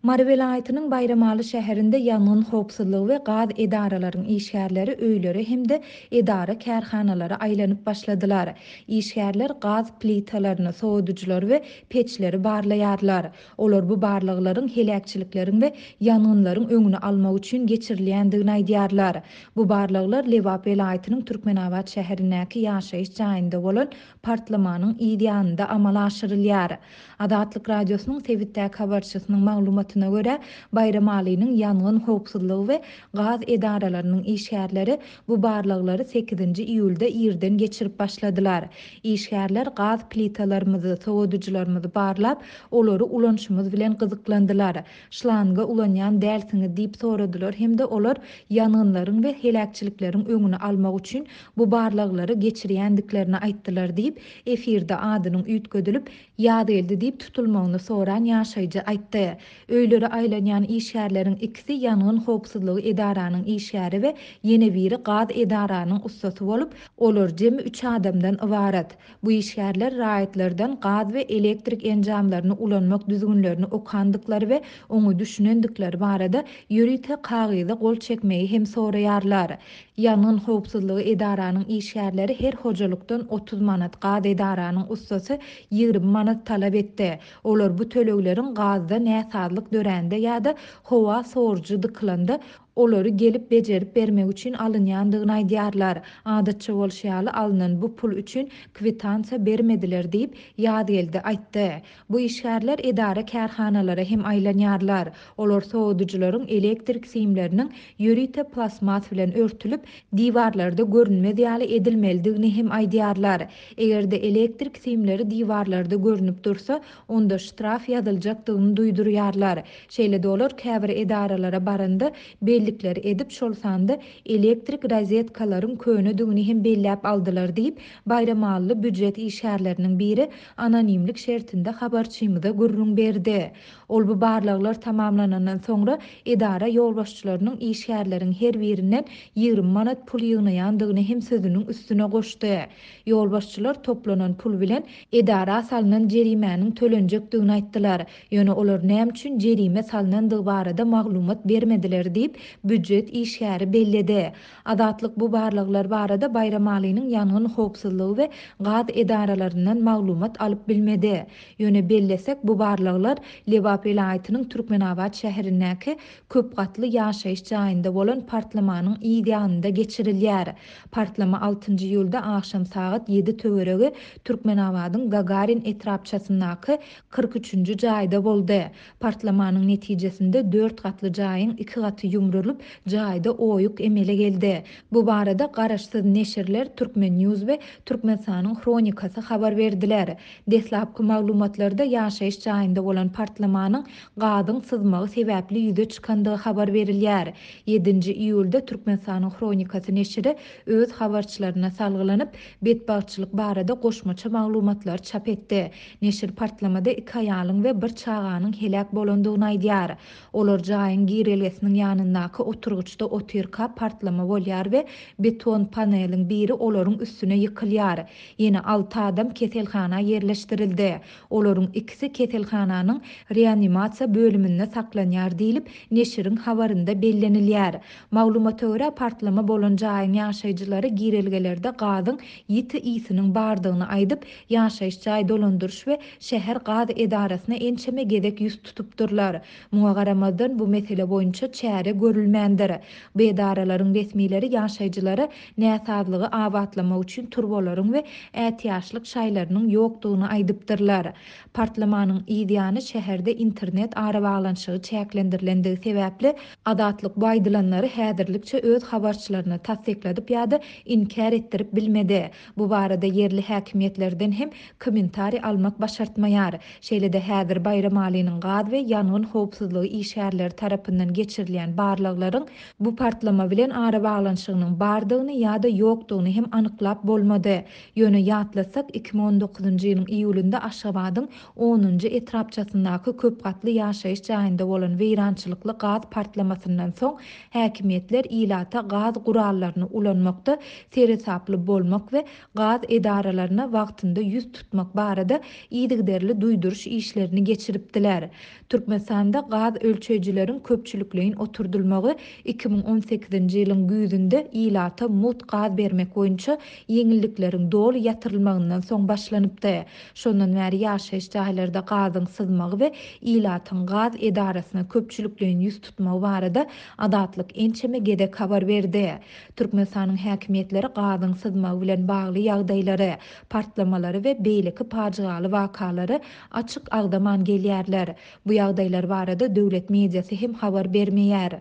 Mary welaýatynyň Baýramaly şäherinde ýangyn howpsuzlygy we gaz edaralaryň işgärleri öýlere hem-de edara-kärhanalara aýlanyp başladylar. Işgärler gaz plitalaryny, sowadyjylary we peçleri barlaýarlar. Olar bu barlaglaryň heläkçilikleriň we ýangynlaryň öňüni almak üçin geçirilýändigini aýdýarlar. Bu barlaglar Lebap welaýatynyň Türkmenabat şäherindäki ýaşaýyş jaýynda bolan partlamanyň yz ýanynda amala aşyrylýar. Azatlyk Radiosynyň sebitdäki habarçysynyň maglumatyna görä, Baýramalynyň ýangyn howpsuzlygy we gaz edaralarynyň işgärleri bu barlaglary sekizinji iýulda irden geçirip başladylar. Işgärler gaz plitalarymyzy, sowadyjylarymyzy barlap, olary ulanşymyz bilen gyzyklandylar. şlanga ulanýan dälsiňiz diýip soradylar hem-de olar ýangynlaryň we heläkçilikleriň öňüni almak üçin bu barlaglary geçirýändiklerini aýtdylar diýip, efirde adynyň üýtgedilip, Ýazgeldi diýip tutulmagyny soran ýaşaýjy aýtdy. Öýlere aýlanýan işgärleriň ikisi ýangyn howpsuzlygy edaranyň işgäri we ýene biri gaz edaranyň ussasy bolup, olar jemi üç adamdan ybarat. Bu işgärler raýatlardan gaz we elektrik enjamlaryny ulanmak düzgünlerini okandyklary we oňa düşünendikleri barada ýörite kagyza gol çekmegi hem soraýarlar. Ýangyn howpsuzlygy edaranyň işgärleri her hojalykdan otuz manat, gaz edaranyň ussasy ýigrimi manat talap etdi. Olar bu tölegleriň gazda näsazlyk dörände ýa-da howa sorujy dykylanda olary gelip bejerip bermek üçin alynýandygyny aýdýarlar. Adatça bolşy ýaly, alnan bu pul üçin kwitansiýa bermediler diýip, Ýazgeldi aýtdy. Bu işgärler edara-kärhanalara hem aýlanýarlar. Olar sowadyjylaryň elektrik simleriniň ýörite plastmas bilen örtülip, diwarlarda görünmez ýaly edilmelidigini hem aýdýarlar. Eger-de elektrik simleri diwarlarda görnüp dursa, onda ştraf ýazyljakdygyny duýdurýarlar. Şeýle-de olar käbir edaralara baranda bellikler edip, şol sanda elektrik rozetkalaryň könedigini hem belläp aldylar diýip, baýramally býujet işgärleriniň biri anonimlik şertinde habarçymyza gürrüň berdi. Ol bu barlaglar tamamlanandan soňra edara ýolbaşçylarynyň işgärleriň her birinden ýigrimi manat pul ýygnaýandygyny hem sözüniň üstüne goşdy. Ýolbaşçylar toplanan pul bilen edara salnan jerimäniň tölenjekdigini aýtdylar, ýöne olar näme üçin jerime salnandygy barada maglumat bermediler diýip, býujet işgäri belledi. Azatlyk bu barlaglar barada Baýramalynyň ýangyn howpsuzlygy we gaz edaralaryndan maglumat alyp bilmedi. Ýöne bellesek, bu barlaglar Lebap welaýatynyň Türkmenabat şäherindäki köp gatly ýaşaýyş jaýynda bolan partlamanyň yz ýanynda geçirilýär. Partlama altynjy iýulda agşam sagat ýedi töweregi Türkmenabadyň Gagarin etrapçasyndaky kyrk üçünji jaýda boldy. Partlamanyň netijesinde dört gatly jaýyň iki gaty ýumrulyp, jaýda oýuk emele geldi. Bu barada garaşsyz neşirler Turkmen. News we Türkmenistanyň Hronikasy habar berdiler. Deslapky maglumatlarda ýaşaýyş jaýynda bolan partlamanyň gazyň syzmagy sebäpli ýüze çykandygy habar berilýär. Ýedinji iýulda Türkmenistanyň Hronikasy neşiri öz habarçylaryna salgylanyp, betbagtçylyk barada goşmaça maglumatlary çap etdi. Neşir partlamada iki aýalyň we bir çaganyň heläk bolandygyny aýdýar. Olar jaýyň girelgesiniň ýanyndaky oturgyçda otyrka partlama bolýar we beton paneliň biri olaryň üstüne ýykylýar. Ýene alty adam keselhana ýerleşdirildi. Olaryň ikisi keselhananyň reanimasiýa bölüminde saklanýar diýlip, neşiriň habarynda bellenilýär. Maglumata görä, partlama bolan jaýyň ýaşaýjylary girelgelerde gazyň ýiti ysnyň bardygyny aýdyp, ýaşaýyş jaý dolandyryş we şäher gaz edarasyna ençeme gezek ýüz tutupdyrlar. Muňa garamazdan, bu mesele boýunça çäre görülmändir. Bu edaralaryň resmileri ýaşaýjylara näsazlygy abatlamak üçin turbalaryň we ätiýaçlyk şaýlarynyň ýokdugyny aýdypdyrlar. Partlamanyň yz ýany şäherde internet arabaglanyşygy çäklendirilenligi sebäpli, Azatlyk bu aýdylanlary häzirlikçe öz habarçylaryna tassykladyp ýa-da inkär etdirip bilmedi. Bu barada ýerli häkimiýetlerden hem kommentariý almak başartmaýar. Şeýle-de häzir Baýramalynyň gaz we ýangyn howpsuzlygy işgärleri tarapyndan geçirilýän barlaglaryň Bu partlama bilen arabaglanyşygynyň bardygyny ýa-da ýokdugyny hem anyklap bolmady. Ýöne ýatlatsak, iki müň on dokuzynjy ýylyň iýulynda Aşgabadyň onunjy etrapçasyndaky köp gatly ýaşaýyş jaýynda bolan weýrançylykly gaz partlamasyndan soň häkimiýetler ilata gaz gurallaryny ulanmakda seresaply bolmak we gaz edaralaryna wagtynda ýüz tutmak barada yzygiderli duýduryş işlerini geçiripdiler. Türkmenistanda gaz ölçeýjileriň köpçülikleýin oturdylmagy iki müň on sekizinji ýylyň güýzünde ilata mugt gaz bermek boýunça ýeňillikleriň doly ýatyrylmagyndan soň başlanypdy. Şondan bäri ýaşaýyş jaýlarda gazyň syzmagy we ilatyň gaz edarasyna köpçülikleýin ýüz tutmagy barada Azatlyk ençeme gezek habar berdi. Türkmenistanyň häkimiýetleri gazyň syzmagy bilen bagly ýagdaýlary, partlamalary we beýleki pajygaly wakalary Açyk agzaman gelýärler. Bu ýagdaýlar barada döwlet mediasy hem habar bermeýär.